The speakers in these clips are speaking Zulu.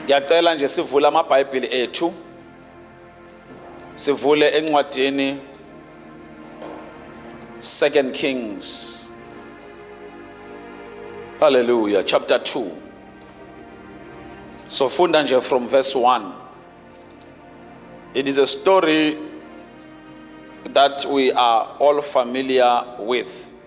ngiyacela nje sivule amabhayibhili ethu sivule encwadini second kings haleluya chapter 2 sofunda nje from verse 1 it is a story that we are all familiar with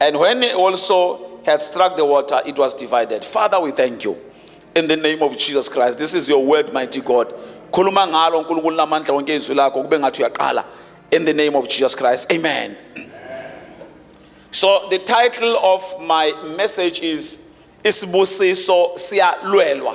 And when he also had struck the water, it was divided. Father, we thank you. In the name of Jesus Christ. This is your word, mighty God. Khuluma ngalo uNkulunkulu namandla wonke izwi lakho kube ngathi uyaqala. In the name of Jesus Christ. Amen. So the title of my message is Isibusiso siyalwelwa.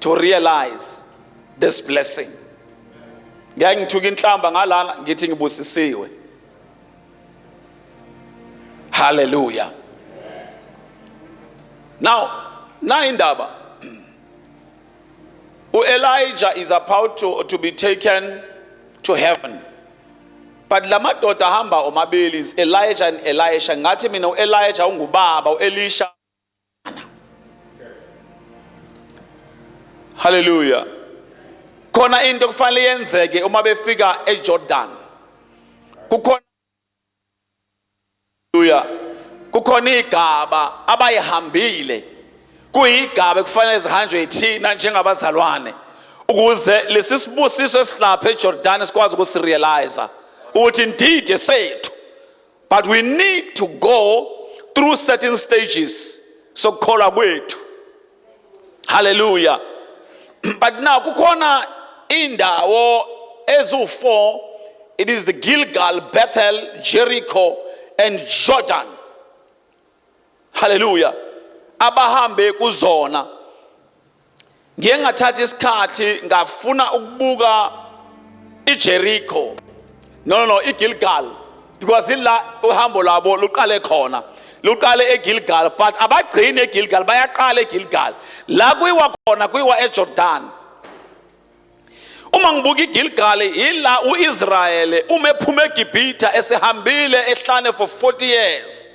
to realize this blessing ngeke ngithuke inhlamba ngalana ngithi ngibusisiwe haleluya now nayi indaba uElijah is about to, to be taken to heaven but lamadoda ahamba omabili is Elijah and Elisha ngathi mina uElijah ungubaba uElisha Hallelujah. Khona into okufanele yenzeke uma befika eJordan. Kukhona Hallelujah. Kukhona igaba abayihambile. Kuyigaba ekufanele zihanjwe yithina njengabazalwane ukuze lesisibusiso esilapha eJordan sikwazi ukusirealize ukuthi indeed esethu but we need to go through certain stages sokukholwa kwethu haleluya but now kukhona indawo eziwu-4 it is the gilgal bethel jericho and jordan haleluya abahambe kuzona ngiye ngathatha isikhathi ngafuna ukubuka iJericho no no no iGilgal because ila uhambo lwabo luqale khona luqale eGilgal but abagcini eGilgal bayaqala eGilgal la kuyiwa khona kuyiwa eJordan uma ngibuka iGilgal ila uIsrayeli uma ephuma eGibhithe esehambile ehlane for 40 years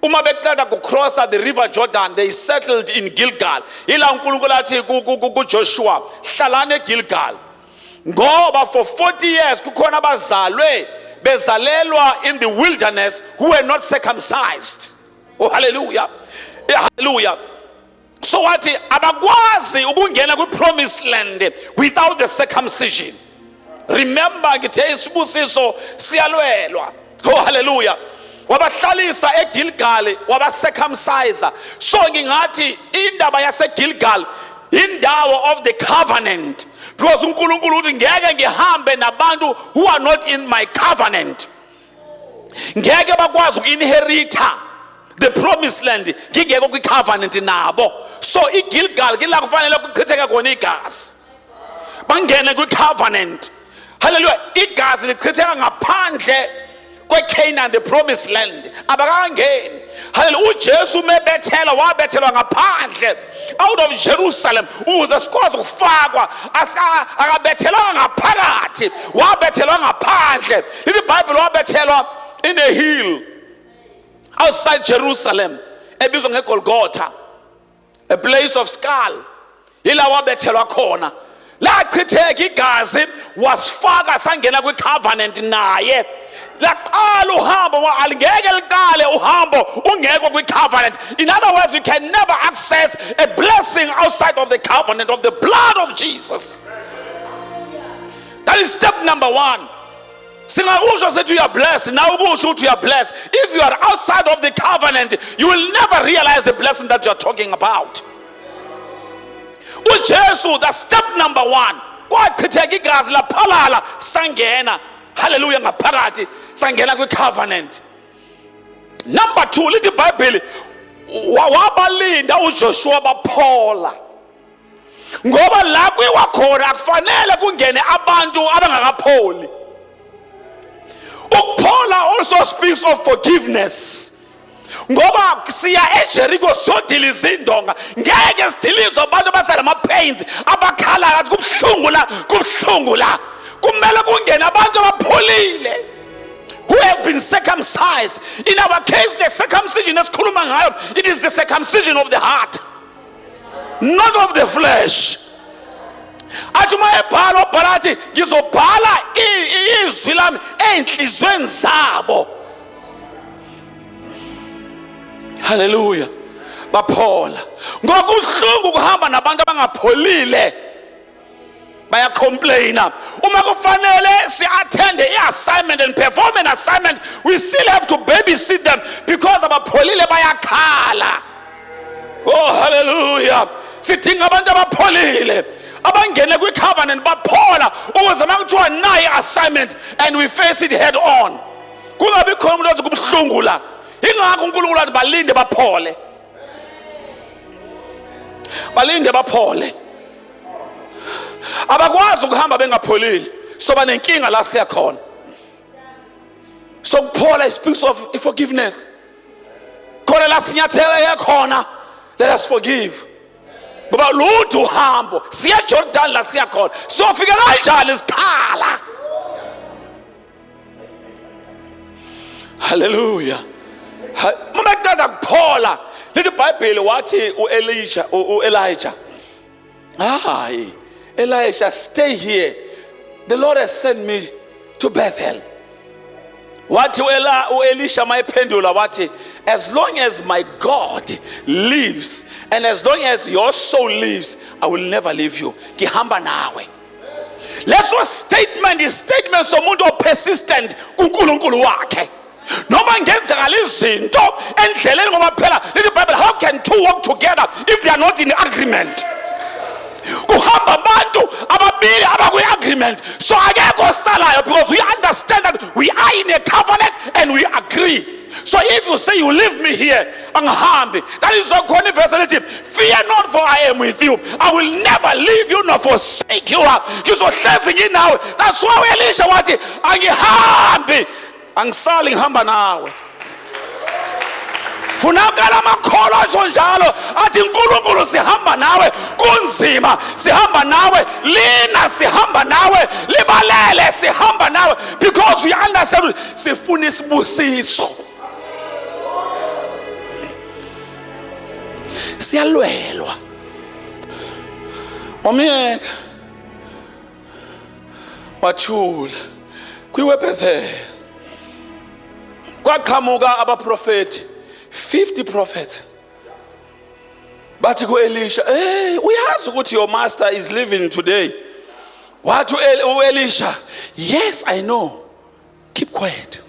uma beqeda kucrossa the river Jordan they settled in Gilgal ila uNkulunkulu athi kuJoshua hlalani eGilgal ngoba for 40 years kukhona abazalwe bezalelwa in the wilderness who were not circumcised oh hallelujah hallelujah so wathi abakwazi ukungena kwi-promised land without the circumcision remember ngithe isibusiso siyalwelwa oh haleluya wabahlalisa egilgali wabacircumcisa so ngingathi indaba yasegilgali indawo of the covenant because unkulunkulu uthi ngeke ngihambe nabantu who are not in my covenant ngeke bakwazi uku-inheritha the promised land ngingekho kwi-covenant nabo so igilgal ke la kufanele kuchitheke khona igazi bangene kwi-covenant halleluya igazi lichitheka ngaphandle kwecanaan the promised land abakangeni haleluya ujesu umebethela wabethelwa ngaphandle out of jerusalem ukuze sikwazi ukufakwa akabethelwanga ngaphakathi wabethelwa ngaphandle lithi ibhayibhile wabethelwa in a hill outside jerusalem ebizwa ngegolgotha a place of skull ila wabethelwa khona lachitheka igazi wasifaka sangena kwicovenant naye laqala uhambo alingeke liqale uhambo ungekho kwicovenant in other words you can never access a blessing outside of the covenant of the blood of jesus that is step number one singakusho sithi uya bless nawe ukusho ukuthi uya bless if you are outside of the covenant you will never realize the blessing that you are talking about ujesu the step number one kwachitheka igazi laphalala sangena haleluya ngaphakathi sangena kwi-covenant number two lithi ibhayibheli wabalinda ujoshua baphola ngoba la kuyiwa khona akufanele kungene abantu abangakapholi ukuphola also speaks of forgiveness ngoba siya ejeriko sodila izindonga ngeke sidilize abantu abasenama-pains abakhalayo athi kubuhlungu la kubuhlungu la kumele kungene abantu abapholile who have been circumcised in our case the circumcision esikhuluma ngayo it is the circumcision of the heart not of the flesh athi uma ebhala obhala athi ngizobhala izwi lami ey'nhliziyweni zabo haleluya baphola ngokuhlungu ukuhamba nabantu abangapholile bayacomplaina uma kufanele si-athende i-assignment and perform an assignment we still have to babysit them because abapholile bayakhala oh hallelujah sidinga abantu abapholile abangene kwi-covenant baphola ukuze uma kuthiwa nayi assignment and we face it head on kungabi khona umuntu othi kubuhlungu la ingakho unkulunkulu athi balinde baphole balinde baphole abakwazi ukuhamba bengapholile soba nenkinga la siya khona sokuphola it speaks of forgiveness khona la sinyathela yakhona let us forgive ngoba lude uhambo siya Jordan la siya khona siyofika kanjani isikhala haleluya uma kuqeda kuphola lithi ibhayibheli wathi u-elisha u-elija hayi elisha stay here the lord has sent me to bethel wathi u-elisha mayephendula wathi as long as my god lives and as long as your soul lives i will never leave you ngihamba nawe leso statement istatement somuntu opersistent kuNkulunkulu wakhe noma ngenzekala izinto endleleni ngoba phela lithi bible how can two walk together if they are not in agreement kuhamba abantu ababili abakwi-agreement so akekho osalayo because we understand that we are in a covenant and we agree so if you say you leave me here angihambi ndalizokhona ivesi elithi fear not for i am with you i will never leave you nor forsake you ngizohlezi nginawe that's why uelisha wathi angihambi angisali ngihamba nawe funakala amakholwa asho njalo athi nkulunkulu sihamba nawe kunzima sihamba nawe lina sihamba nawe libalele sihamba nawe because we understand sifuna isibusiso siyalwelwa wamyeka wathula kwiwebethel kwaqhamuka abaprofethi 50 prophets bathi kuelisha hey uyazi ukuthi your master is living today wathi uelisha yes i know keep quiet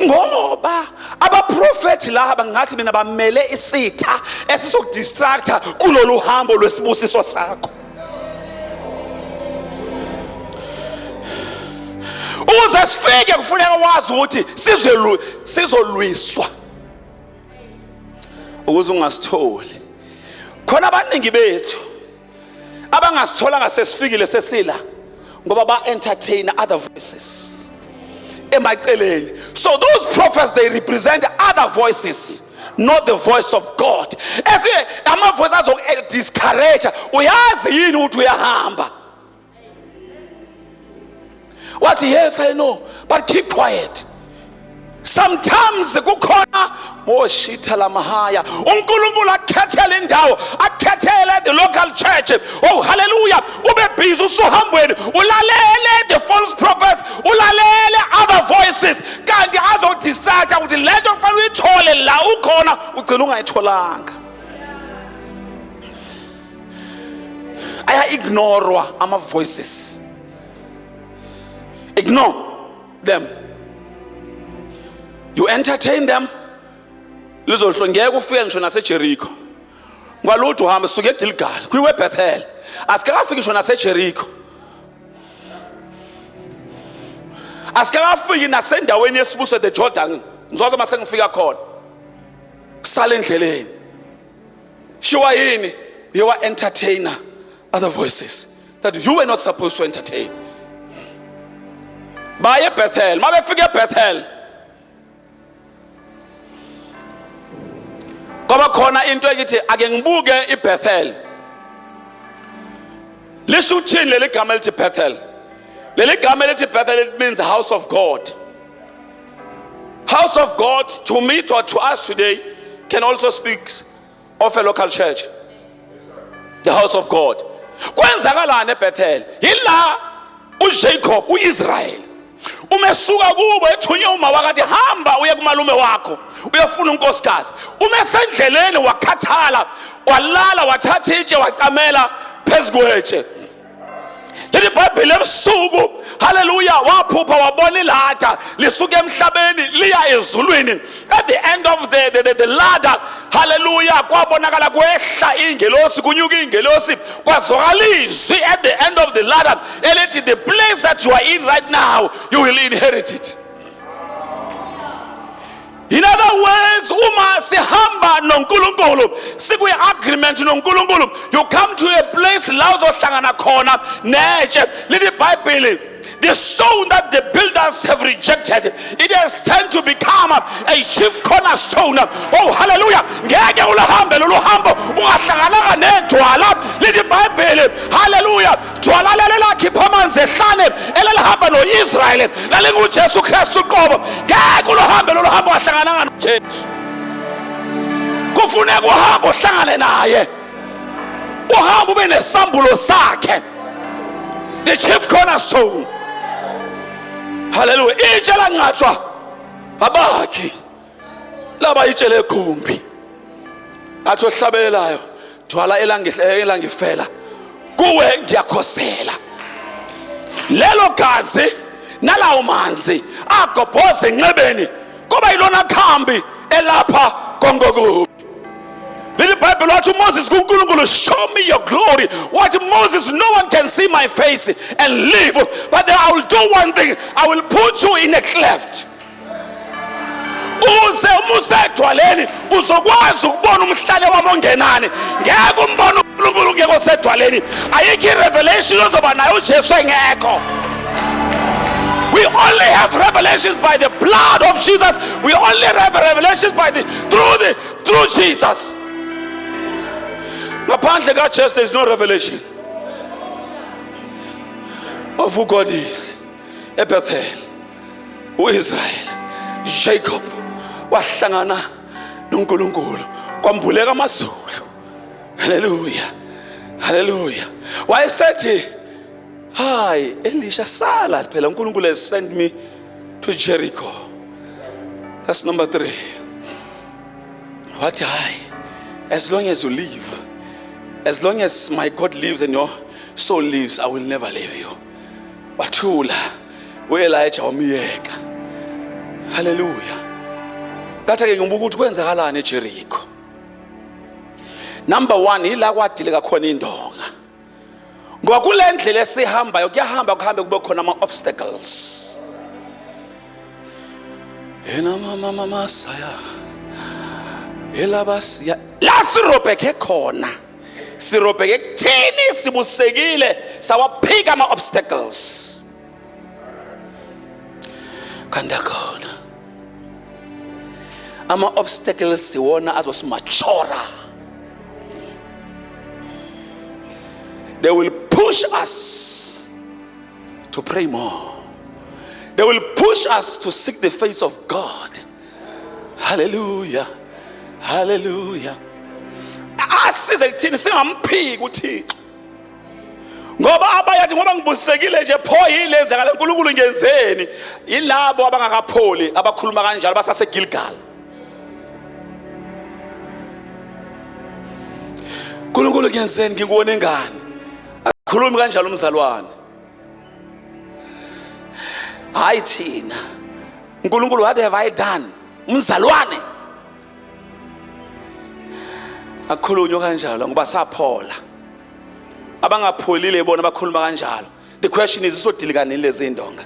ngoba abaprofethi laba ngathi mina bamele isitha esizokudistractor kulolu hambo lwesibusiso sakho ukuze sifike kufuneka wazi ukuthi sizolwiswa ukuze ungasitholi khona abaningi bethu abangasitholanga sesifikile sesila ngoba ba entertain other voices emaceleni so those prophets they represent other voices not the voice of god esinye amavoice azokudiscourage uyazi yini ukuthi uyahamba wathi yes i know but keep quiet sometimes kukhona oshitha oh, lamahaya uNkulunkulu akhethele indawo akhethele the local church oh hallelujah ube busy usuhambweni ulalele the false prophets ulalele other voices kanti azodistract ukuthi lento kufanele uyithole la ukhona ugcina ungayitholanga aya-ignorwa ama-voices ignore them you entertain them lizohlwe ngeke ufike ngisho nasejerikho kwalutho uhambe suke egilgali kwiwebethel asikakafiki ngisho nasejerikho asikakafiki nasendaweni yesibuso the jordan ngizoze uma sengifika khona sale endleleni shiwa yini uye wa-entertainer other voices that you were not supposed to entertain baye ebethel uma befika ebethel kwaba khona into ekithi ake ngibuke ibethel lisho ukuthini leli gama elithi bethel leli gama elithi bethel it means house of god House of God to me or to us today can also speak of a local church. The house of God. Kwenzakalani eBethel? Yila uJacob uIsrael. Umesuka kubo ethunywe uma wakathi hamba uye kumalume wakho uyofuna unkosikazi. Umesendleleni wakhathala walala wathatha itshe waqamela phezu kwetshe. leli bhayibheli ebusuku haleluya waphupha wabona ilada lisuke emhlabeni liya ezulwini at the end of the, the, the, the ladder haleluya kwabonakala kwehla ingelosi kunyuka ingelosi kwazwakala izwi at the end of the ladder elithi the place that you are in right now you will inherit it In other words, uma sihamba noNkulunkulu, sikwi agreement noNkulunkulu, you come to a place la uzohlangana khona netshe. Lithi Bible the stone that the builders have rejected it has turned to become a chief cornerstone oh hallelujah ngeke uluhambe lolu hambo ungahlangana Thwala leli lakhipha amanzi ehlane elelihamba noIsrayeli lalinguJesu Kristu uqobo ngeke uluhambe lolu hambo wahlangananga noJesu kufuneka uhambe uhlangane naye uhambe ube nesambulo sakhe the chief cornerstone haleluya itshe lanqatshwa abakhi laba itshele egumbi athi ohlabelelayo thwala elangifela kuwe ngiyakhosela lelo gazi nalawo manzi agobhoze enxebeni kuba yilona khambi elapha kongokubi leli bhayibheli wathi umoses kunkulunkulu show me your glory wathi moses no one can see my face and live but then i will do one thing i will put you in a cleft uze uma usedwaleni uzokwazi ukubona umhlale wami ongenani ngeke umbone unkulunkulu ungekho sedwaleni ayikho i-revelation ozoba nayo ujesu engekho We only have revelations by the blood of Jesus. We only have revelations by the through the through Jesus. Apparently, God just there's no revelation of who God is. Ebethel. uIsrael Jacob wahlangana noNkulunkulu kwambuleka amazulu haleluya haleluya wayesethi hayi elisha sala phela uNkulunkulu has sent me to Jericho that's number 3 wathi hayi as long as you live as long as my God lives and your soul lives i will never leave you wathula uElijah wamyeka haleluya ngathi ke ngibuka ukuthi kwenzakalani eJericho number 1 ila kwadileka khona indonga ngoba kule ndlela esihambayo kuyahamba kuhambe kube khona ama obstacles ena mama mama saya elabasiya la sirobhekhe khona sirobheke ekutheni sibusekile sawaphika ama-obstacles kanti akhona ama-obstacles siwona azosimachora they will push us to pray more they will push us to seek the face of god haleluya haleluya asize kuthini singamphiki uthixo ngoba abayathi ngoba ngibusisekile nje pho yini lenzakala uNkulunkulu ngenzeni yilabo abangakapholi abakhuluma kanjalo basasegilgal uNkulunkulu ngenzeni ngikuwone ngani akhulumi kanjalo umzalwane hayi thina unkulunkulu what have i done umzalwane akhulunywa kanjalo ngoba saphola abangapholile bona bakhuluma kanjalo the question is isodilikanini lezi indonga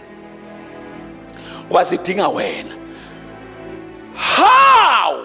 ngoba zidinga wena how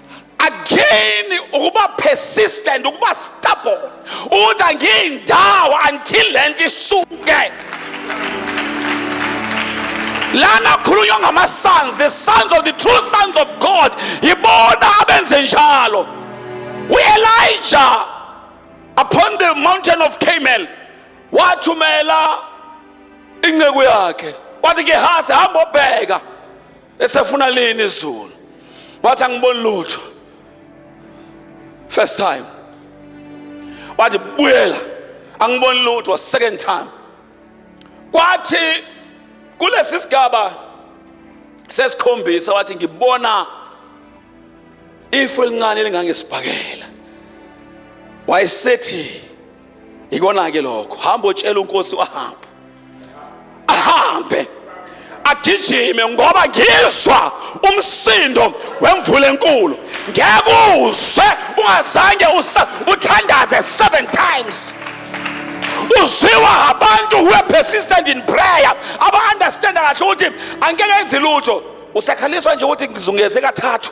again ukuba persistent ukuba stubborn ukuthi angiyindawo until le nto isuke lana khulunywa ngama-sons the sons of the true sons of god yibona abenze njalo u-elija upon the mountain of camel wathumela inceku yakhe wathi gehazi hamba obheka esefuna lini izulu wathi angiboni lutho first time wathi buyela angiboni lutho second time kwathi kulesi sigaba sesikhombisa wathi ngibona ifu elincane elingangesibhakela wayesethi ikona ke lokho hamba otshela uNkosi wahambe ahambe agijime ngoba ngizwa umsindo wemvula enkulu ngeke uzwe ungazange uthandaze 7 times uzwiwa abantu who are persistent in prayer aba understand kahle ukuthi angeke enze lutho usakhaliswa nje ukuthi ngizungeze kathathu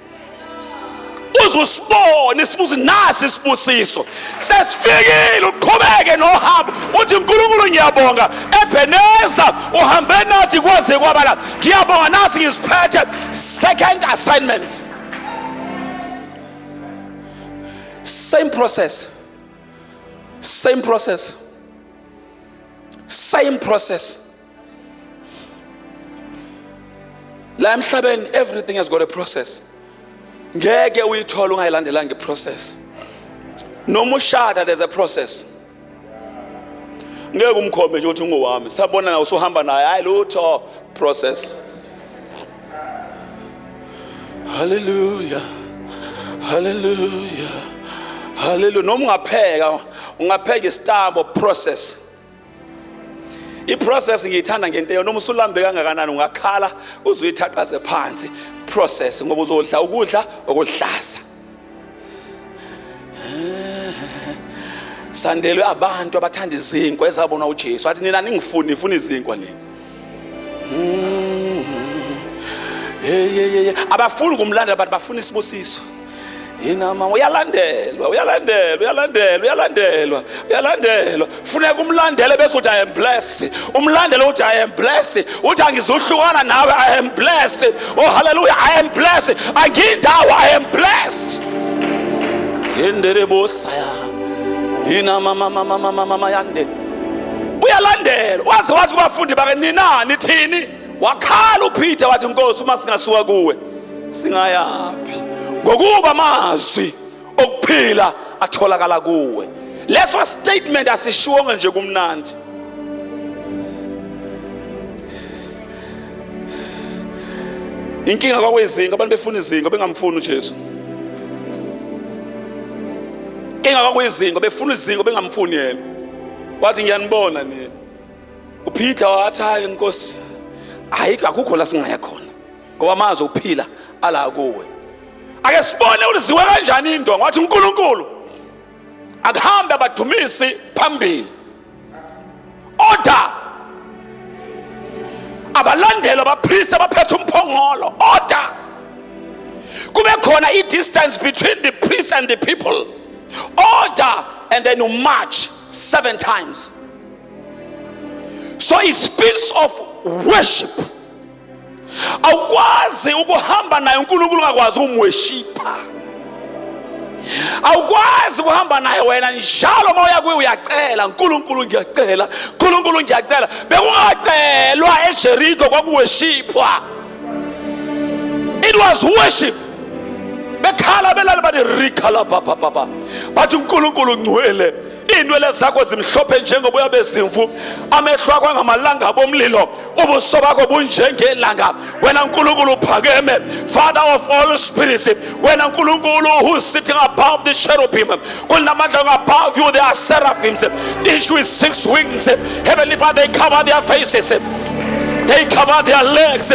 uze usibone sibuze nasi isibusiso sesifikile uqhubeke nohambo uthi uNkulunkulu ngiyabonga ebheneza uhambe nathi kwaze kwaba la ngiyabonga nasi ngisiphethe second assignment same process same process same process la emhlabeni everything has got a process ngeke uyithola ungayilandelanga iprocess noma ushada there's a process ngeke umkhombe nje ukuthi ungowami sabona nawe usuhamba naye hayi lutho process haleluya haleluya haleluya noma ungapheka ungapheka isitambo process iprocess ngiyithanda ngento yona uma usulambe kangakanani ungakhala uzuyithaqaze phansi process ngoba uzodla ukudla okudlaza sandelwe abantu abathanda izinkwa ezabona uJesu athi nina ningifuni nifuna izinkwa nini Mm. Hey, hey, hey. Abafuni ukumlandela abantu bafuna isibusiso. Yena mama uyalandelwa uyalandelwa uyalandelwa uyalandelwa uyalandelwa funeka umlandele bese uthi I am blessed umlandele uthi I am blessed uthi angizuhlukana nawe I am blessed oh hallelujah I am blessed angindawo I am blessed yendelebosaya yina mama mama mama mama yande uyalandela waze wathi kubafundi bake nina nithini wakhala uPeter wathi inkosi uma singasuka kuwe singayaphi ngokuba amazwi okuphila atholakala kuwe leso statement asishiwonge nje kumnandi inkinga kwakwezinga abantu befuna izinga bengamfuni uJesu inkinga kwakwezinga befuna izinga bengamfuni yena wathi ngiyanibona nini uPeter wathi hayi inkosi ayikho akukho la singaya khona ngoba amazi uphila ala kuwe ake sibone uliziwe kanjani indonga wathi uNkulunkulu akuhambe abadumisi phambili order abalandeli abapristi abaphethe umphongolo order kube khona i-distance between the priest and the people order and then you march seven times so it speaks of worship awukwazi ukuhamba naye unkulunkulu ungakwazi ukumweshipha awukwazi ukuhamba naye wena njalo uma uya kuye uyacela nkulunkulu ngiyacela nkulunkulu ngiyacela bekungacelwa ejeriko kwakuweshiphwa it was worship bekhala belale bathi rikhala baba baba bathi unkulunkulu ngcwele iinwele zakho zimhlophe njengoboya bezimvu amehlo akho angamalanga bomlilo ubuso bakho bunjengelanga wena nkulunkulu uphakeme father of all spirits wena nkulunkulu who is sitting above the cherubim kunamandla above you they are seraphims each with six wings heavenly father they cover their faces they cover their legs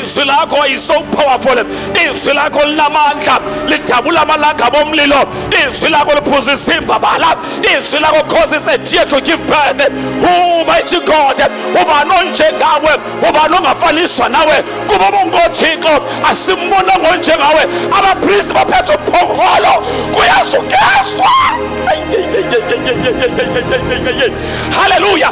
izwi lakho is so powerful izwi lakho linamandla lidabula amalanga bomlilo izwi lakho liphuza isimbabala izwi lakho causes a tear to give birth who mighty god ubani onjengawe ubani ongafaniswa nawe kuba bongothixo asimbona ngonjengawe abapristi baphethe umphongolo kuyasukeswa haleluya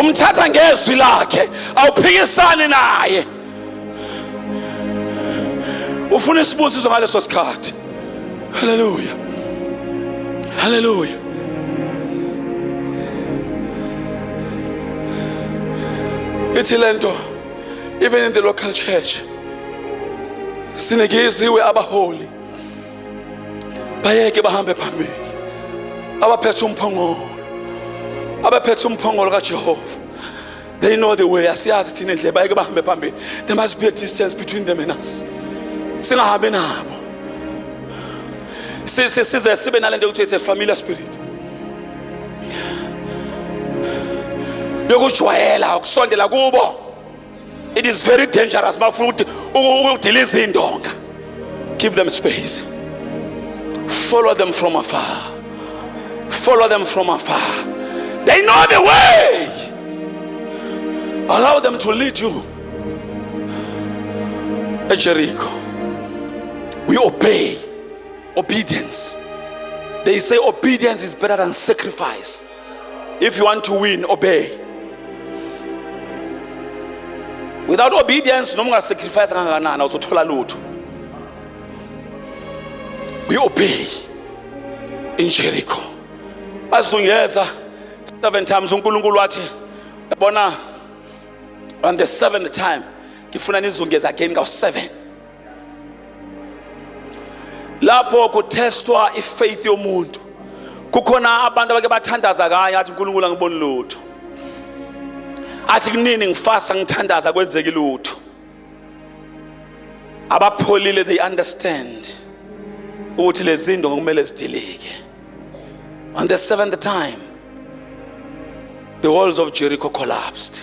umthatha ngezwi lakhe awuphikisani naye ufuna isibusiso ngaleso sikhathi haleluya haleluya ithi lento even in the local church sinekeziwe abaholi bayeke bahambe phambili abaphethe umphongolo abaphethe umphongolo kajehova they know the way asiyazi thina indlela bayeke bahambe phambili there must be a distance between them and us singahambi nabo size sibe nale nto yokuthi it's a familiar spirit yokujwayela ukusondela kubo it is very dangerous bafuna ukuthi ukudila izindonga give them space follow them from afar follow them from afar they know the way allow them to lead you at Jericho we obey obedience they say obedience is better than sacrifice If you want to win, obey. Without obedience, no more sacrifice kangakanani uzothola lutho. We obey in Jericho. Bazungeza seven times uNkulunkulu wathi yabona on the seventh time ngifuna nizungeza again ka seven. lapho kuthestwa ifaith yomuntu kukhona abantu abake bathandaza kanye athi uNkulunkulu angiboni lutho athi kunini ngifasa ngithandaza kwenzeki lutho abapholile they understand ukuthi lezinto ngokumele zidilike on the seventh time the walls of Jericho collapsed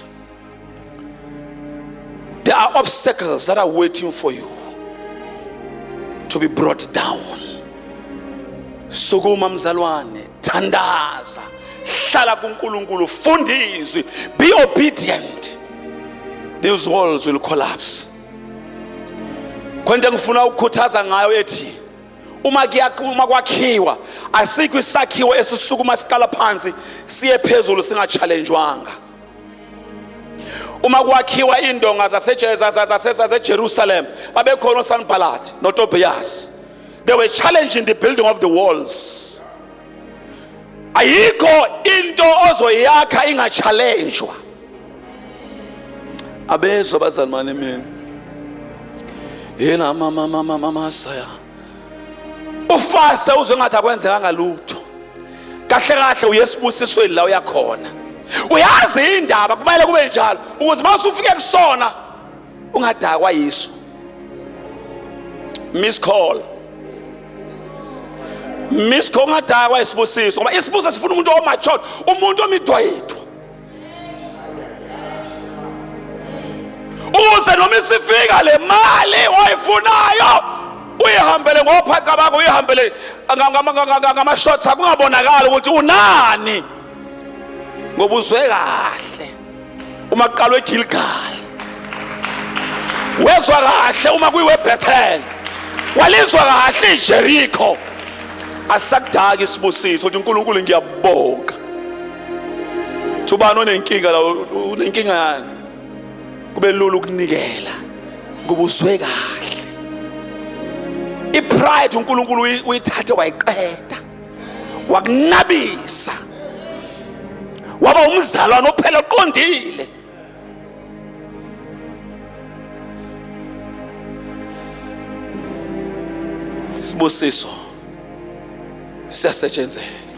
There are obstacles that are waiting for you to be brought down. Sukuma mzalwane, thandaza, hlala kuNkulunkulu, funda izwi, be obedient. These walls will collapse. Kwente ngifuna ukukhuthaza ngayo ethi uma uma kwakhiwa asikho isakhiwo esisukuma siqala phansi siye phezulu singachallenjwanga. uma kwakhiwa indonga zasejerusalem babekhona osanibhalati notobiyasi they were challenging the building of the walls ayikho into ozoyakha ingachalenjwa abezwa bazalwane mina yena mama mama mama saya ufase uzwe ngathi akwenzekanga lutho kahle kahle uyesibusisweni la uyakhona uyazi indaba kumele kube njalo ukuze uma usufike kusona ungadakwa yiso miss call miss call ungadakwa isibusiso ngoba isibusiso sifuna umuntu omachod umuntu omidwayidwa ukuze noma isifika le mali oyifunayo uyihambele ngophaqa bakho uyihambele ngama-shots akungabonakali ukuthi unani ngoba uzwe kahle uma kuqalwe egilgal wezwa kahle uma kuyiwebethel walizwa kahle ijerikho asakudaki isibusiso ukuthi unkulunkulu ngiyabonga Thubani onenkinga la unenkinga yani? Kube lula ukunikela. Kuba uzwe kahle. ipride uNkulunkulu uyithathe wayiqeda wakunabisa waba umzalwane ophela oqondile sibusiso siyasetshenzela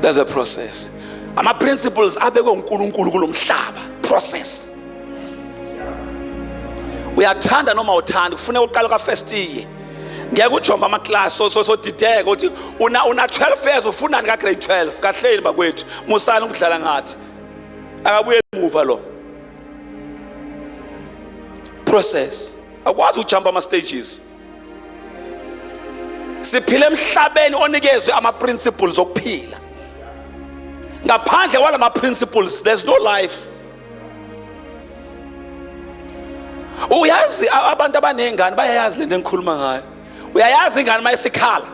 there's a process ama principles abekwe uNkulunkulu kulomhlaba process uyathanda noma uthanda kufuneka uqala ka first year ngeke ujomba ama class so so dideke ukuthi una una 12 years ufunani ka grade 12 kahleni bakwethu musani ukudlala ngathi akabuye emuva lo process akwazi ukujumpa ama stages siphila emhlabeni onikezwe ama principles okuphila ngaphandle kwalama principles there's no life uyazi abantu abanezingane bayayazi lento engikhuluma ngayo uyayazi ingane mayisikhala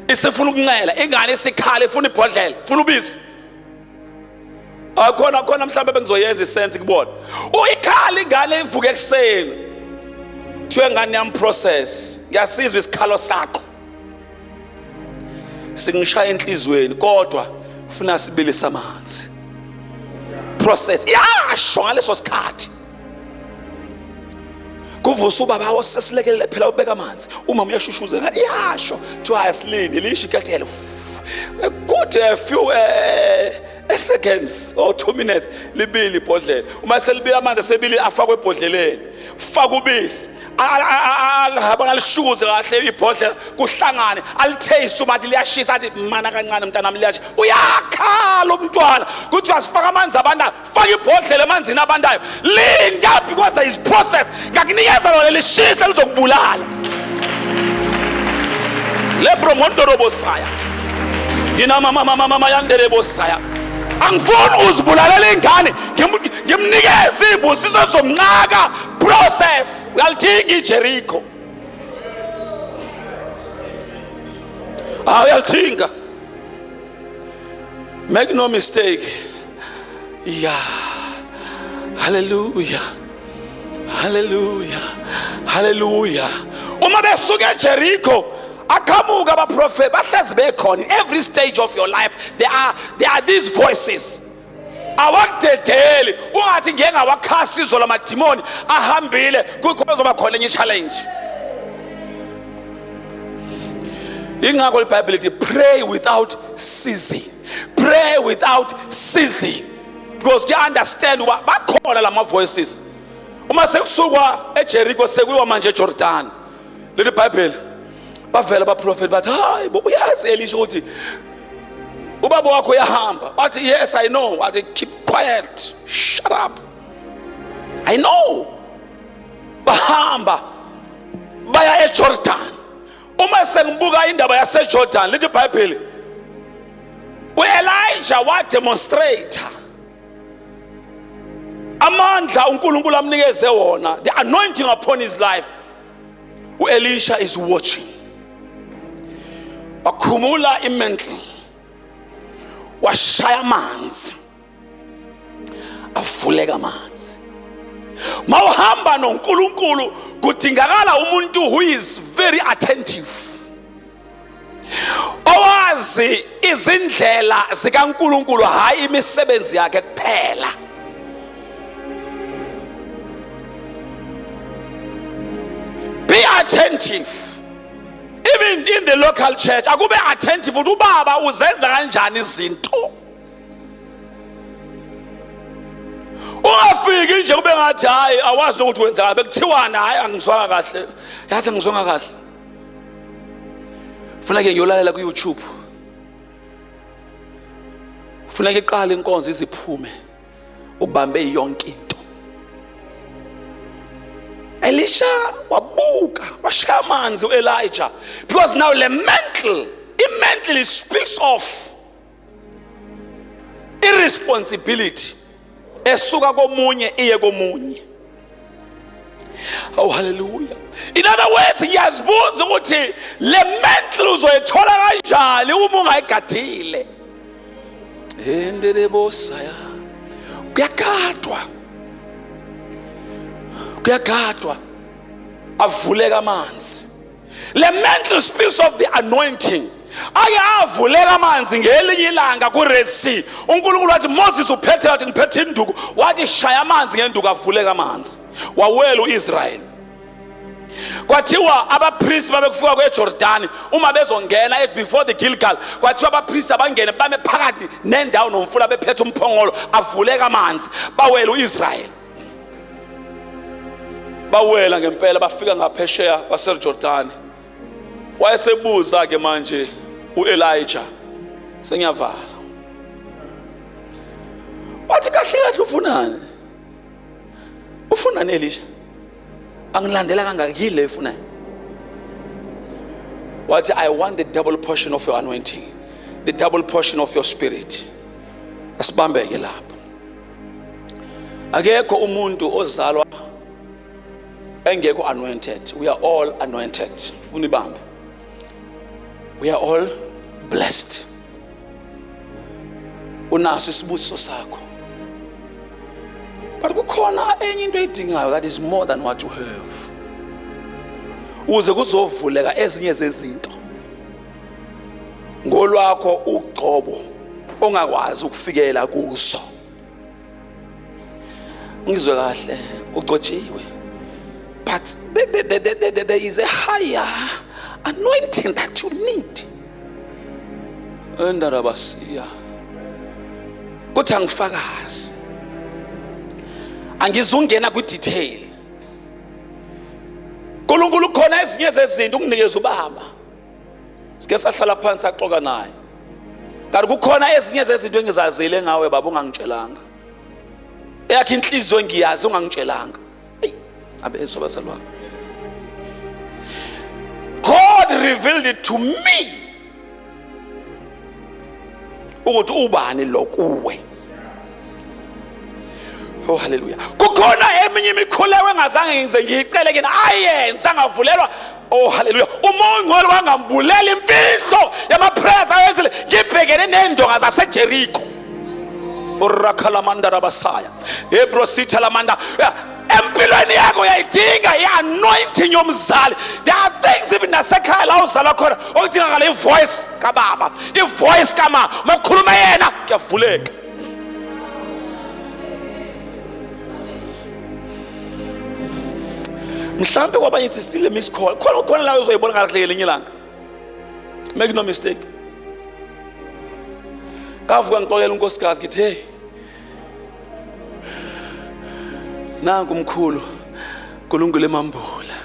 isifuna ukunxela ingane isikhala ifuna ibhodlela ifuna ubisi akhona khona mhlawumbe bengizoyenza isense kubona uyikhala ingane ivuke ekuseni kuthiwe ngane yami process ngiyasizwa isikhalo sakho singishaya enhlizweni kodwa funa sibilisa amanzi process yasho ngaleso sikhathi kuvusa ubaba osesilekelele phela ubeka amanzi umama uyashushuza ngathi iyasho kuthiwa asilindi lisho iketele kude a few eh, eh, seconds or two minutes libili ibhodlela uma selibili amanzi asebili afakwe ebhodleleni faka ubisi alihaba ngalishukuze kahle ibhodlela kuhlangane alitaste uma athi liyashisa athi mana kancane mntanami liyasha uyakhala umntwana kuthiwa sifaka amanzi abanda faka ibhodlela emanzini abandayo linda because there is process ngakunikeza lona lishise lizokubulala lebro ngondorobosaya yina mama mama mama yanderebosaya angifuni uzibulalela ingane ngimnikeze ibusiso zomnqaka process uyalithinga ijerikho ah uyalithinga make no mistake ya haleluya haleluya haleluya uma besuke ejerikho aqhamuka abaprofethi bahlezi bekhona every stage of your life there are, there are these voices awakudedeli ungathi ngeke ngawakhasa izolo amadimoni ahambile kuzoba khona enye challenge ingakho libhayibheli lithi pray without ceasing pray without ceasing because kuya understand uba bakhona lama voices uma sekusukwa eJericho sekuyiwa manje eJordan leli bible bavela abaprofeti bathi hayi bo uyazi elisho ukuthi ubaba wakho uyahamba wathi yes i know wathi keep quiet shut up i know bahamba baya eJordan uma sengibuka indaba yaseJordan lithi iBhayibheli uElijah wademonstrate amandla uNkulunkulu amnikeze wona the anointing upon his life uElisha is watching wakhumula imantle washaya amanzi avuleka amanzi mawuhamba noNkulunkulu kudingakala umuntu who is very attentive owazi izindlela zikaNkulunkulu hayi imisebenzi yakhe kuphela be attentive even in the local church akube attentive ukuthi ubaba uzenza kanjani izinto ungafiki nje kube ngathi hayi awazi nokuthi wenzani bekuthiwani hayi angizwanga kahle yazi angizwanga kahle funa ke ngiyolalela ku-youtube funa ke iqala inkonzo iziphume ubambe yonke into elisha wabuka washaya amanzi u-elija because now le mental i-mental speaks of irresponsibility esuka komunye iye komunye oh haleluya in other words ngiyazibuza ukuthi le mental uzoyithola kanjani uma ungayigadile endelebosaya kuyagadwa kuyagadwa avuleka amanzi le mental spills of the anointing ake avuleka amanzi ngelinye ilanga ku-red sea unkulunkulu wathi moses uphethe wathi ngiphethe induku wathi shaya amanzi ngenduku avuleka amanzi wawela u-israyeli kwathiwa abapristi babekufika kwejordani uma bezongena before the gilgal kwathiwa abapristi abangene bame phakathi nendawo nomfula bephethe umphongolo avuleka amanzi bawela u-israyeli bawela ngempela bafika ngaphesheya kwaserjordani wayesebuza-ke manje u-elija sengiyavala wathi kahle kahle ufunani ufunani elisha angilandela kangaka yini le ifunayo wathi i want the double portion of your anointing the double portion of your spirit asibambeke lapho akekho umuntu ozalwa engekho anointed we are all anointed funa ibambe we are all blessed unaso isibusiso sakho but kukhona enye into edingayo that is more than what you have uze kuzovuleka ezinye zezinto ngolwakho ugcobo ongakwazi ukufikela kuso ngizwe kahle ugcotshiwe but there, there, there, there, there is a higher anointing that you need endarabasiya kuthi angifakazi angizungena kwi-detail nkulunkulu khona ezinye zezinto unginikeza ubaba sike sahlala phansi saxoka naye kanti kukhona ezinye zezinto engizazile ngawe baba ungangitshelanga eyakhe inhliziyo ngiyazi ungangitshelanga eyi abezwa bazalwane god revealed it to me ukuthi ubani lo kuwe Oh haleluya. Kukhona eminye imikhulewe engazange ngize ngiyicele kini ayenza ngavulelwa Oh haleluya. Umongcwele wangambulela imfihlo yamaprayers ayenzile ngibhekene nendonga zaseJericho. Urakhalamanda rabasaya. Ebro sitha lamanda. empilweni yakho uyayidinga i-anointing yomzali there are things even nasekhaya la uzalwa khona okudingakala ivoice kababa ivoice kama uma ukhuluma yena kuyavuleka mhlawumbe kwabanye it's still a miss call khona khona la uzoyibona kahle ngelinye ilanga make no mistake kavuka ngixolela unkosikazi ngithi hey nangu umkhulu kulungile mambula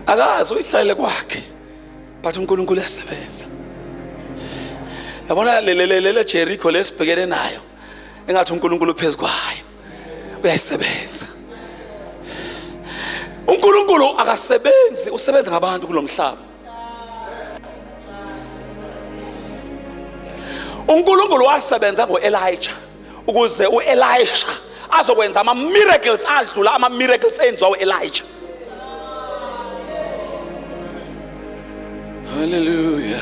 akazi uyihlalele kwakhe but uNkulunkulu uyasebenza yabona le le le Jericho lesibhekene nayo engathi uNkulunkulu uphezu kwayo uyayisebenza uNkulunkulu akasebenzi usebenza ngabantu kulomhlaba uNkulunkulu wasebenza ngoElijah ukuze uElisha azokwenza ama miracles adlula ama miracles enziwa uElisha Hallelujah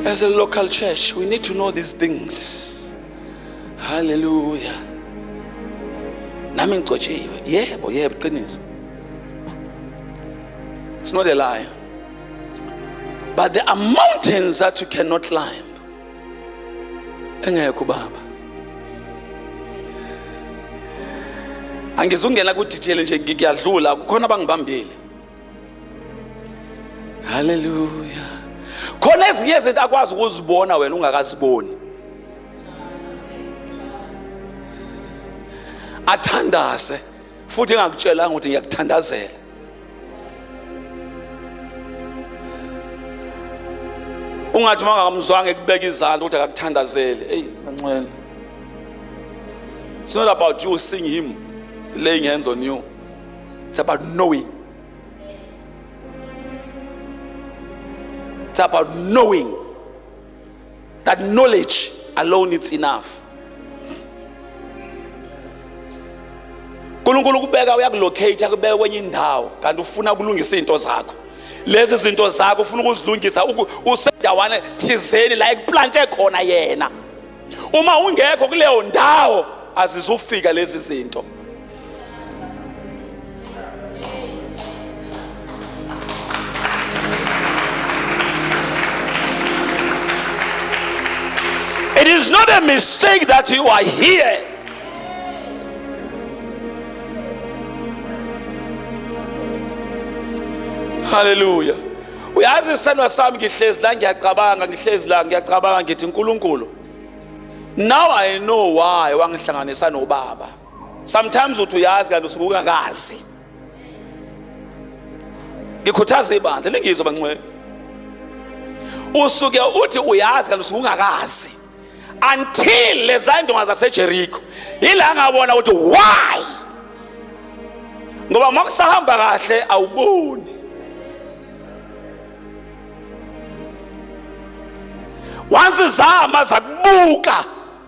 As a local church we need to know these things Hallelujah Nami ngigcotshiwe yebo yebo qiniso It's not a lie but there are mountains that you cannot climb engekho ubaba angizungena kudetail nje ngiyadlula kukhona abangibambile haleluya khona ezinye izinto akwazi ukuzibona wena ungakaziboni athandaze futhi engakutshelanga ukuthi ngiyakuthandazela ungathi uma ungakamzwanga ekubeka izandla ukuthi akakuthandazele eyi kancwele it's not about you seeing him laying hands on you it's about knowing it's about knowing that knowledge alone it's enough uNkulunkulu kubeka uyakulocate akubeka kwenye indawo kanti ufuna ukulungisa izinto zakho lezi zinto zakho ufuna ukuzilungisa usendawana thizeni la ekuplante khona yena uma ungekho kuleyo ndawo azizufika lezi zinto It is not a mistake that you are here. Hallelujah. uyazi isithandwa sami ngihlezi la ngiyacabanga ngihlezi la ngiyacabanga ngithi nkulunkulu now i know why wangihlanganisa nobaba sometimes uthi uyazi kanti usuke ungakazi ngikhuthaza ibandla lingizwe bangcwele usuke uthi uyazi kanti usuke ungakazi until lezandonga zasejerikho yila ngabona ukuthi why ngoba uma kusahamba kahle awuboni wazizama zakubuka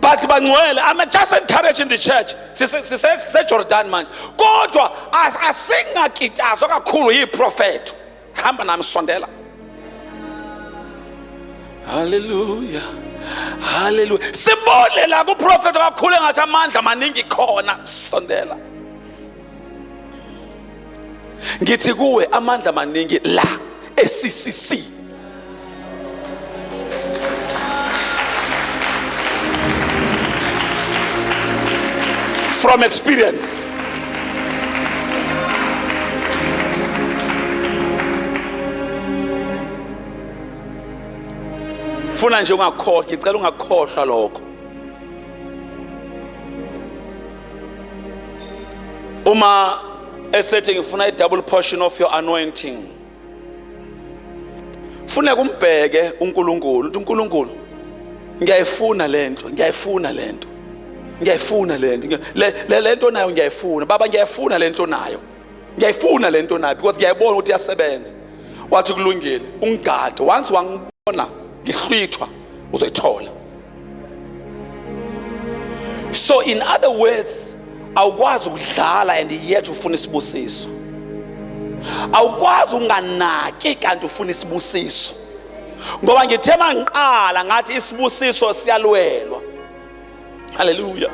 but bangcwele i'm just encouraging the church sisejordan manje kodwa asingakitazwa kakhulu yiprofetho hamba nami sondela haleluya haleluya sibone la kuprofetho kakhulu engathi amandla maningi khona sondela ngithi kuwe amandla maningi la eCCC from experience funa nje ungakhohlwa ngicela ungakhohlwa lokho uma esethi ngifuna i-double portion of your anointing funeka umbheke uNkulunkulu uthi uNkulunkulu ngiyayifuna lento ngiyayifuna lento ngiyayifuna lento le lento nayo ngiyayifuna baba ngiyayifuna lento nayo ngiyayifuna le nto nayo because ngiyayibona ukuthi iyasebenza wathi kulungile ungigade once wangibona ngihlwithwa uzoyithola so in other words awukwazi ukudlala and yet ufuna isibusiso awukwazi unganaki kanti ufuna isibusiso ngoba ngithe mangiqala ngathi isibusiso siyalwelwa haleluya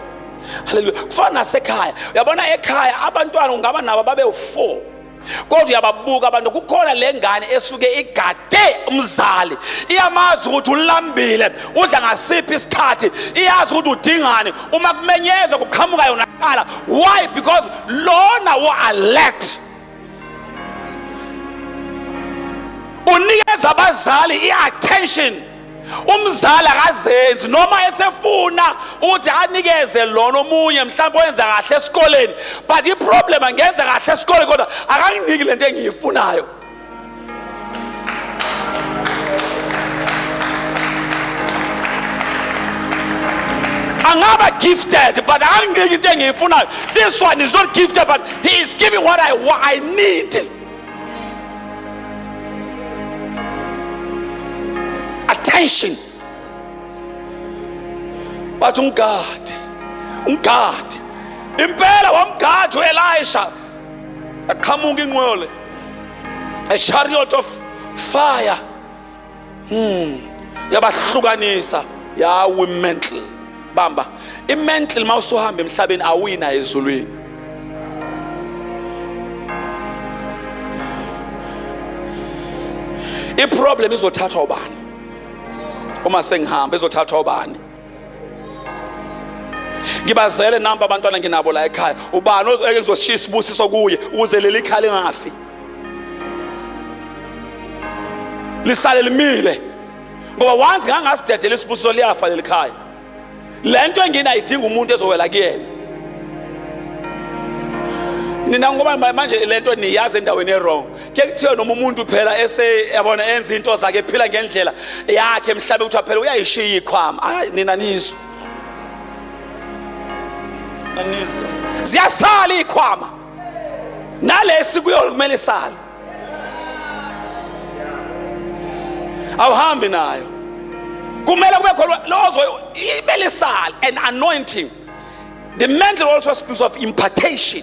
haleluya kufana nasekhaya uyabona ekhaya abantwana ungaba nabo babewu-four kodwa uyababuka abantu kukhona le ngane esuke igade umzali iyamazi ukuthi ulambile udla ngasiphi isikhathi iyazi ukuthi udingani uma kumenyezwa kuqhamuka yona qala why because lona wa-alert unikeza abazali i-attention umzali akazenzi noma esefuna ukuthi anikeze lona omunye mhlawumbe wenza kahle esikoleni but iproblem angenza kahle esikoleni kodwa akanginiki lento engiyifunayo angaba gifted but anginiki into engiyifunayo this one is not gifted but he is giving what i, what I need attention bathi umgadi umgadi impela wamgadi uelisha aqhamuka inqole a chariot of fire hmm yabahlukanisa yawi mental bamba imental mawusuhamba emhlabeni awuyina ezulwini iproblem izothathwa ubani uma sengihamba izothathwa ubani ngibazele namba abantwana nginabo la ekhaya ubani ozeke ngizoshiya isibusiso kuye ukuze leli khaya lingafi lisale limile ngoba once ngangasidedela isibusiso liyafa leli khaya le nto engini ayidinga umuntu ezowela kuyena nina ngoba manje le nto niyazi endaweni erong ke kuthiwe noma umuntu phela ese yabona enza into zakhe phila ngendlela yakhe mhlabe kuthiwa phela uyayishiya ikhwama hayi nina nizwe ziyasala ikhwama nalesi kuyo kumele sale awuhambi nayo kumele kube khona lozo imele sale an anointing the mantle also speaks of impartation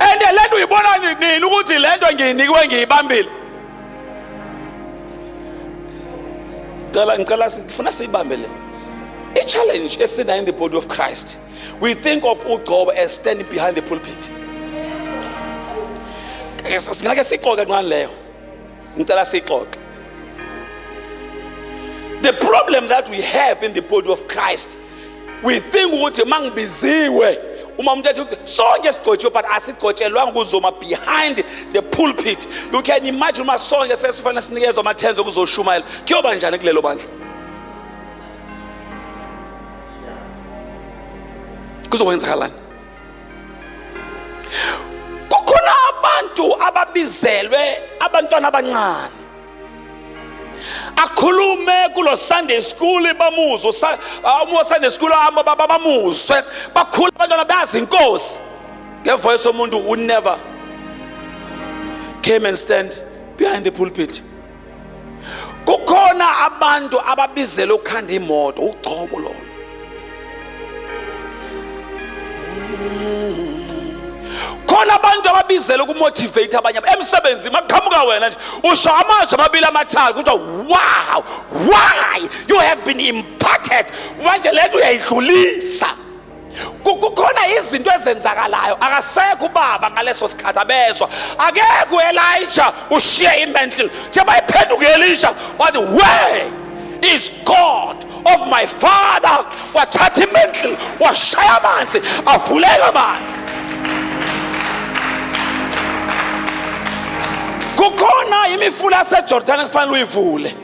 and le nto uyibona nini ukuthi le nto ngiyinikiwe ngiyibambile cela ngicela ngifuna siyibambe le i-challenge esinayo in the body of christ we think of ugcobo as standing behind the pulpit singake siqoke ngani leyo ngicela sixoxe the problem that we have in the body of christ we think ukuthi uma ngibiziwe uma umuntu ethi sonke sigcotshiwe but asigcotshelwanga ukuzoma behind the pulpit you can imagine uma sonke sesifanele sinikezwa amathenzi okuzoshumayela kuyoba njani kulelo bandla kuzokwenzakalani kukhona abantu ababizelwe abantwana abancane akhulume kulo sunday school bamuzwe uma ah, sunday school ahamba baba bamuzwe bakhula abantwana bazi inkosi ngevoice omuntu who never came and stand behind the pulpit kukhona abantu ababizele ukukhanda imoto ugcobo lona khona abantu ababizele ukumotivate abanye emsebenzini makuqhamuka wena nje usho amazwi amabili amathathu kuthiwa wow why you have been imparted manje lento uyayidlulisa kukhona izinto ezenzakalayo akasekho ubaba ngaleso sikhathi abezwa akekho uElisha ushiye imentle nje bayiphenduka uElisha wathi where is God of my father wathatha imentle washaya amanzi avuleka amanzi kukhona imifula yaseJordan ekufanele uyivule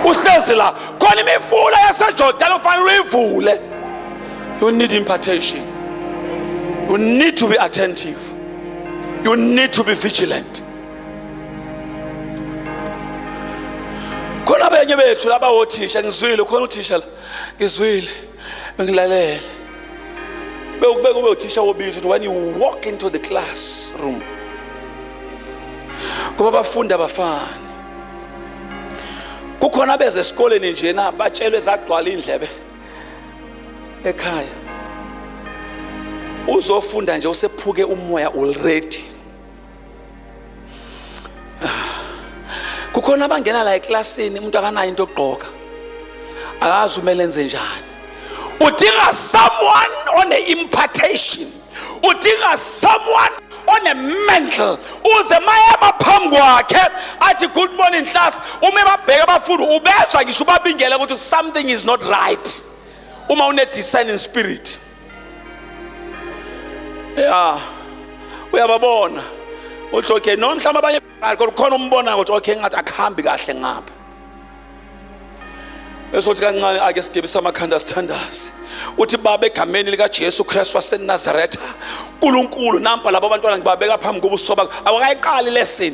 uhlezi la khona imifula yasejordani ufanele uyivule you need impartation you need to be attentive you need to be vigilant khona benye bethu laba wothisha ngizwile khona uthisha la ngizwile bengilalele bewukube kube uthisha wobizo ukuthi when you walk into the classroom kuba abafundi abafani kukhona abeze esikoleni njena batshelwe zagcwala indlebe ekhaya uzofunda nje usephuke umoya already kukhona abangena la eklasini umuntu akanayo into yokugqoka akazi umele enze njani udinga someone one impartation udinga someone one mental uze mayema phambi kwakhe athi good morning class uma babheka abafundi ubezwa ngisho ubabingela ukuthi something is not right uma une discerning spirit ya uyababona uthi okay noma mhlawumbe abanye baqali kodwa khona umbona ukuthi okay ngathi akuhambi kahle ngapha esothi kancane ake sigebisa amakhanda sithandaze uthi baba egameni likaJesu Kristu waseNazaretha uNkulunkulu nampa labo bantwana ngibabeka phambi kobuso bakho awakayiqali lesson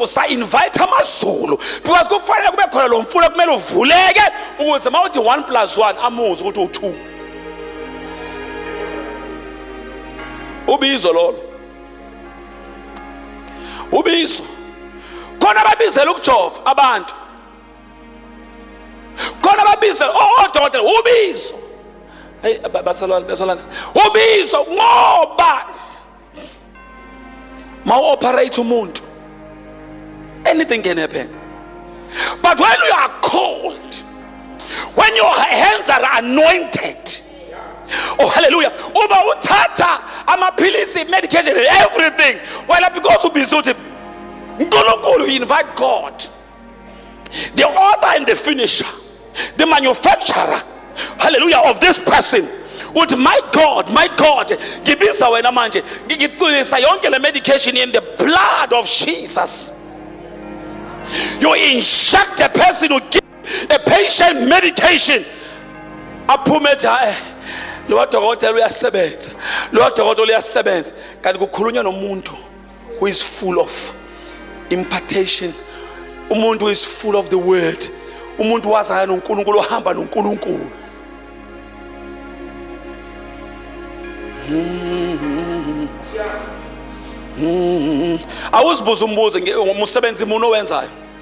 usa invite amazulu because kufanele kube khona lo mfula kumele uvuleke ukuze mawuthi 1 + 1 amuzi ukuthi u2 ubizo lolo ubizo khona babizela ukujova abantu khona babizela odokotela oh, oh, ubizo hey basalwana basalwana ubizo ngoba ma operate umuntu anything can happen but when you are called when your hands are anointed oh hallelujah uba uthatha amaphilisi medication everything wena because ubize uthi unkulunkulu invite god The author and the finisher, the manufacturer, hallelujah, of this person uthi my god my god ngibiza wena manje ngicwilisa yonke le medication in the blood of jesus you inject a person who give a patient meditation aphume ethi hayi lowa dokotela uyasebenza lowa dokotela uyasebenza kanti kukhulunywa nomuntu who is full of impartation umuntu who is full of the word umuntu wazana noNkulunkulu ohamba noNkulunkulu awuzibuza umbuzo ngomsebenzi umuntu owenzayo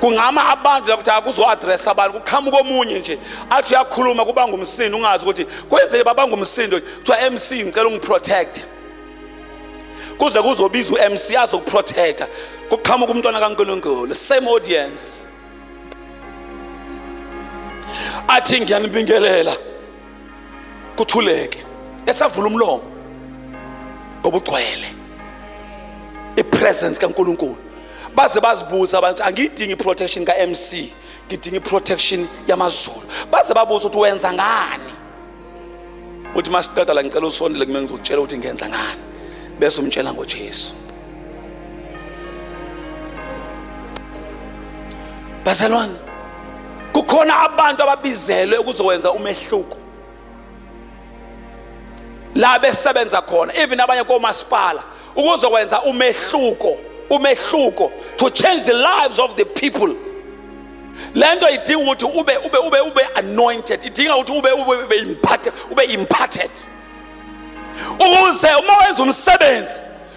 kungama abantu ukuthi akuzo-adressa abantu kuqhamuka omunye nje athi uyakhuluma kubanga umsindo ungazi ukuthi kwenzeke babanga umsindo kuthiwa mc ngicela ungiprotecte kuze kuzobiza u-mc azokuprotecta kuqhamuka umntwana kankulunkulu same audience athi ngiyanibingelela kuthuleke esavula umlomo obugcwele ipresence kaNkuluNkulu baze bazibuza abantu angiyidingi protection ka MC ngidinga iprotection yamazulu baze babuza ukuthi wenza ngani uthi masiqeda la ngicela usondele kumele ngizokutshela ukuthi ngenza ngani bese umtshela ngoJesu bazalwane kukhona abantu ababizelwe ukuzowenza umehluko la besebenza khona even abanye komasipala ukuzokwenza umehluko umehluko to change the lives of the people lento idinga ukuthi ube ube ube ube anointed idinga ukuthi ube ube ube impacted ube impacted ukuze uma wenza umsebenzi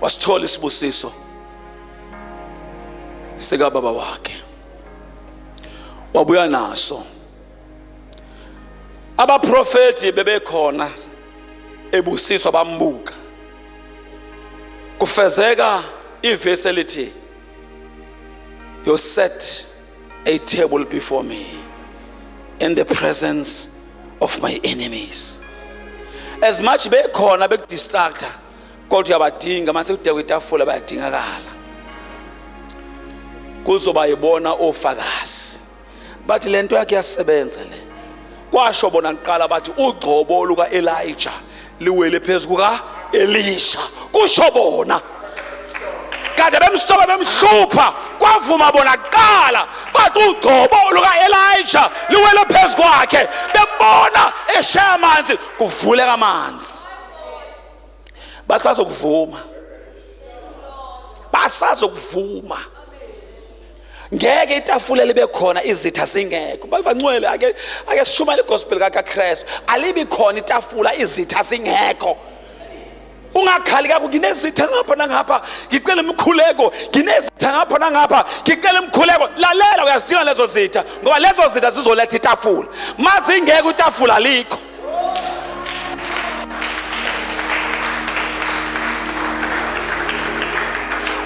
wasithola isibusiso sikababa wakhe wabuya naso abaprofeti bebekhona ebusiswa bambuka kufezeka ivesi elithi you set a table before me in the presence of my enemies as much bekhona bekudistracta kodwa uyabadinga mase kudekwe itafula bayadingakala kuzoba yibona ofakazi bathi lento yakhe yasebenza le kwasho bona kuqala bathi ugcobo luka Elijah liwele phezu kuka Elisha kusho bona kade bemstoba bemhlupha kwavuma bona kuqala bathi ugcobo luka-elija liwele phezu kwakhe bembona eshaya amanzi kuvuleka amanzi basazokuvuma basazokuvuma ngeke itafula libe khona izitha zingekho bancwele ake ake sishumayele igospel kaKristu alibi khona itafula izitha zingekho ungakhali kako nginezitha ngapha nangapha ngicela imikhuleko nginezitha ngapha nangapha ngicela imikhuleko lalela uyazidinga lezo zitha ngoba lezo zitha zizoletha itafula mazingeke itafula likho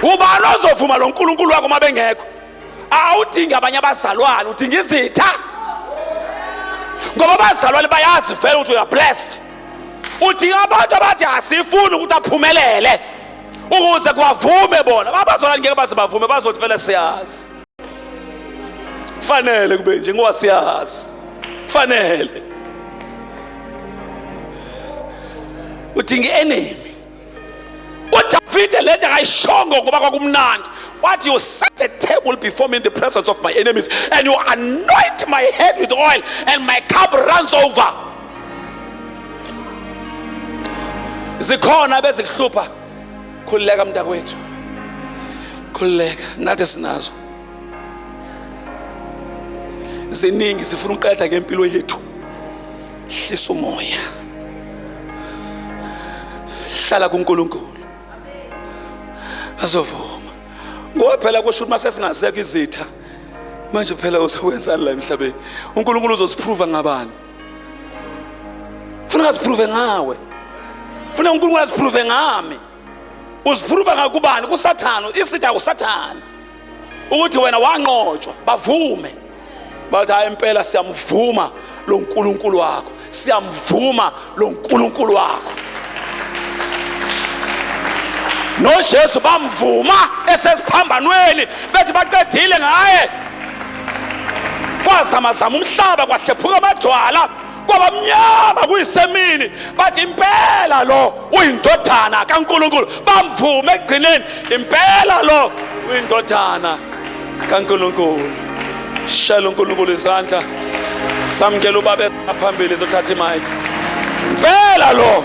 ubani ozovuma lo nkulunkulu wakho uma bengekho awudingi abanye abazalwane udinga izitha ngoba abazalwane bayazi vele ukuthi uya blessed udinga abantu abathi asifuni ukuthi aphumelele ukuze kwavume bona babazalwane ngeke baze bavume bazothi vele siyazi fanele kube nje ngoba siyazi fanele uthi ngi-enemy udavide le nto akayishongo ngoba kwakumnandi What you set a table before me in the presence of my enemies, and you anoint my head with oil, and my cup runs over. zikhona bezikuhlupha khululeka mntakwethu khululeka nathi sinazo ziningi zifuna ukuqeda ngempilo yethu hlisa umoya hlala kuNkulunkulu azovuma ngoba phela kusho ukuthi masesingazeka izitha manje phela uzokwenzani la emhlabeni uNkulunkulu uzosiprova ngabani funa ngaziprove ngawe funa unkulunkulu aziprove ngami uziphruva ngakubani kusathane isitha usathane ukuthi wena wanqotshwa bavume bathi hayi impela siyamvuma lo nkulunkulu wakho siyamvuma lo nkulunkulu wakho nojesu bamvuma esesiphambanweni bethi baqedile ngaye kwazamazama umhlaba kwahlephuka amadwala kwabamnyama kuyisemini bathi impela lo uyindodana kaNkuluNkulu bamvume ekugcineni impela lo uyindodana kaNkuluNkulu shela uNkuluNkulu izandla samkela ubabe phambili zothatha imike impela lo